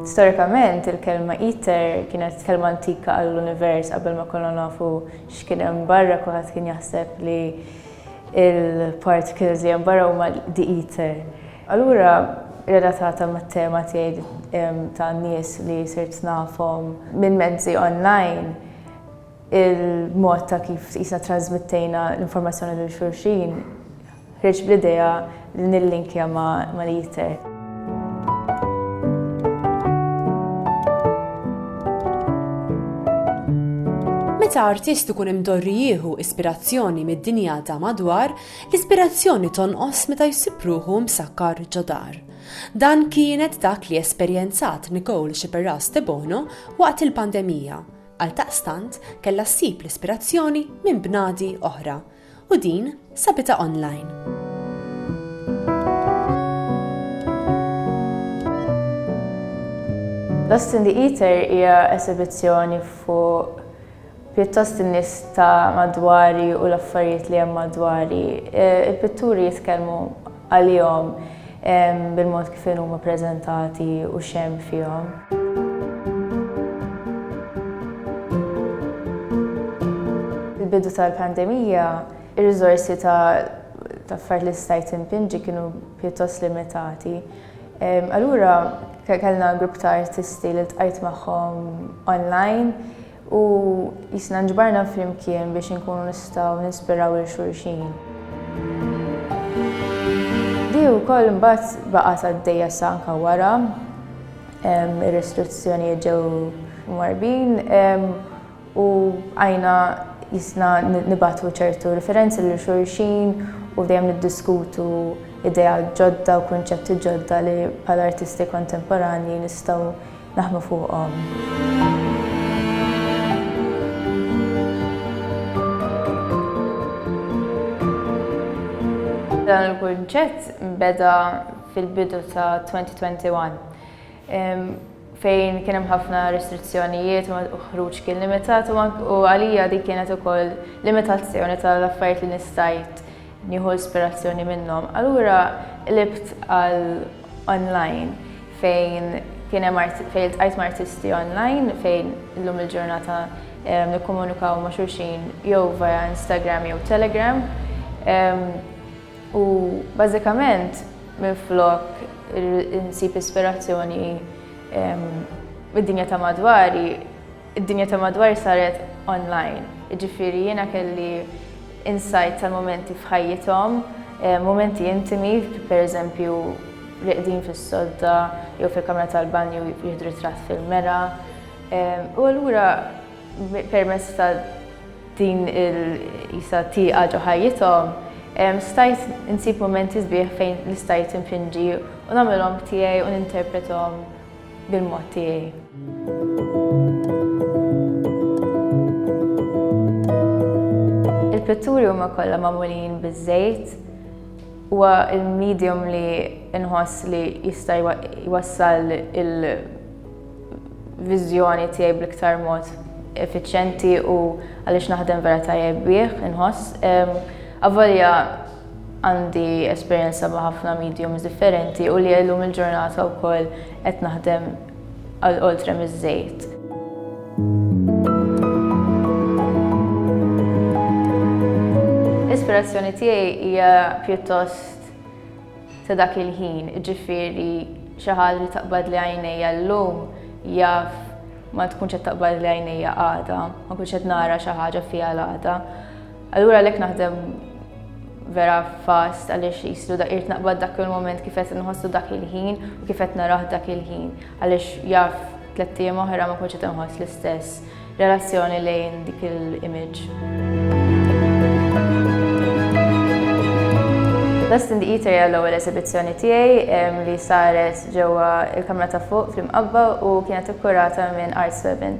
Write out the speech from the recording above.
Storikament, il-kelma iter kienet kelma antika għall-univers qabel ma konna nafu x'kien hemm barra kulħadd kien jaħseb li il-particles li hemm barra huma the ether. Allura relatata mat-tema tiegħi ta' nies li sirt nafhom minn mezzi online, Il-mod ta' kif tqisna ttrasmittejna l-informazzjoni lil xulxin ħriġ bl-idea li nillinkja ma' l-iter. Meta artist ikun imdorri jieħu ispirazzjoni mid-dinja ta' madwar, l-ispirazzjoni tonqos meta jsib ruħu msakkar ġo dar. Dan kienet dak li esperjenzat Nicole Sciberras Debono waqt il-pandemija. Għaldaqstant kellha ssib l-ispirazzjoni minn bnadi oħra u din sabitha online. Lost in the Ether hija esibizzjoni fuq pjuttost in-nies ta' madwari u l-affarijiet li hemm madwari. E, il-pitturi jitkellmu għalihom bil-mod kif huma ppreżentati u x'hemm fihom. Fil-bidu tal-pandemija, ir-riżorsi ta' affarijiet li stajt impinġi kienu pjuttost limitati. Allura kellna grupp ta' artisti li ltqajt magħhom online, U qisna nġbarna flimkien biex inkunu nistgħu ninspiraw lil xulxin. Di wkoll mbagħad baqgħet għaddejja sa anke wara ir-restrizzjonijiet ġew mwarbin u għajna jisna nibatu ċertu referenzi lil xulxin u dejjem niddiskutu ideja ġodda u kunċetti ġodda li bħala artisti kontemporanji nistgħu naħdmu fuqhom. Dan il-kunċett beda fil-bidu ta' 2021 fejn kien hemm ħafna restrizzjonijiet u ħruġ kien limitat u għalija dik kienet ukoll limitazzjoni tal-affarijiet li nista' ngħid Nieħu ispirazzjoni minnhom. Allura qlibt għal online fejn kien hemm fejn iltqajt ma' artisti online fejn illum il-ġurnata eh, nikkomunikaw ma' xulxin jew via Instagram jew Telegram. U bażikament minn flok insib ispirazzjoni mid-dinja ta' madwari Id-dinja ta' madwar saret online, jiġifieri jiena kelli insight tal-mumenti f'ħajjithom, mumenti intimi, pereżempju rieqdin fis-sodda jew fil-kamra tal-banju jieħdu ritratt fil-mera. U allura permezz ta' din il qisha tieqa ġo ħajjithom, stajt insib mumenti sbieħ fejn l-istajt infinġi u nagħmilhom tiegħi u ninterprethom. bil-mod tiegħi. Il-pitturi huma kollha magħmulin biż-żejt huwa l-medium li nħoss li jista' jwassal il-viżjoni tiegħi bl-iktar mod effiċjenti u għaliex naħdem vera tajjeb bih inħoss. Avolja għandi esperjenza ma' ħafna mediums differenti u li llum il-ġurnata wkoll qed naħdem għal oltre miż-żejt. L-ispirazzjoni tiegħi hija pjuttost ta' dak il-ħin, ġifieri xi ħaġa li taqbad li għajnejja llum jaf ma tkunx qed taqbad li għajnejja għada, ma nkunx qed nara xi ħaġa fiha l-għada. Allura għalhekk naħdem vera fast għaliex jislu da irt naqbad dak il-moment kif qed nħossu dak il-ħin u kif qed naraħ dak il-ħin għaliex jaf tliet ijiem oħra ma kunx qed inħoss l-istess relazzjoni lejn dik il-image. Dust in the Eater hija l-ewwel eżibizzjoni tiegħi li saret ġewwa il-Kamra ta' Fuq fl-Imqabba u kienet ikkurata minn Art Swebin.